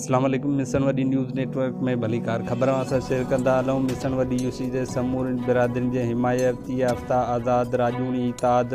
اسلام عليڪم مسڻ وڏي نيوز نيٽ ورڪ ۾ ڀليڪار خبر اوهان سان شيئر ڪندا هلون مسڻ وڏي يو سي جي سمورين برادرين جي حمايتي يافتا آزاد راڄوڻي اتحاد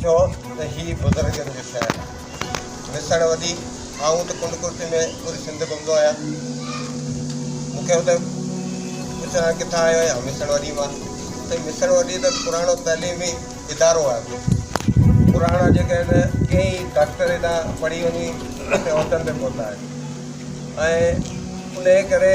ٿيو ته هي بزرگن جو شهر آهي. وسڻ ودي آئون ته ڪنڊ ڪرسي ۾ پوري سنڌ گهمندو آهيان. مون کي هوندي پڇن ها ڪٿان آيو آهيان؟ وسڻ وڏي مان. سائين وسڻ وڏي ته پراڻو تعليمي ادارو آهي. پراڻا جيڪي آهن ڪيئي ڊاڪٽر هتان پڙهي وڃي عهدن تي پهتا آهن ۽ انهيء ڪري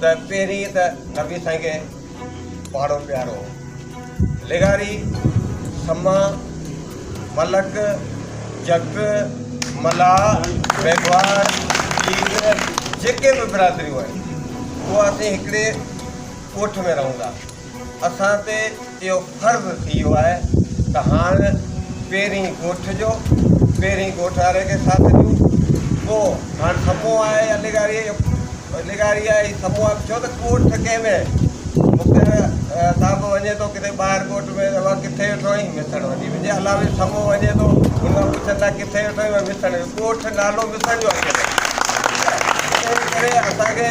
ته پهرين ته نبي سائين کي پاڙو پيارو هو لغاري سما ملڪ جت ملاح ميگهواڙ جيت جيڪي به برادريون آهن اها اسين هڪڙي ڳوٺ ۾ رهون ٿا اسان تي اهو فرض ٿي ويو آهي ته هاڻ پهرين ڳوٺ جو پهرين ڳوٺ واري کي ساٿ ڏيون پوء هاڻ سموهه آهي يا لغاري جو لغاري آهي هي سموهه آهي ڇو ته ڳوٺ ڪنهن ۾ مختيار صاحب وڃي ٿو ڪٿي ٻاهر ڳوٺ ۾ اها ڪٿي ويٺو آهين مٿن وڃي وڃي علاوي سموهه وڃي ٿو هن کان پڇن ٿا ڪٿي ويٺو آهين وڃي مٿن ڳوٺ نالو مٿن جو اچي ٿو ٺيڪ آهي ان ڪري اسان کي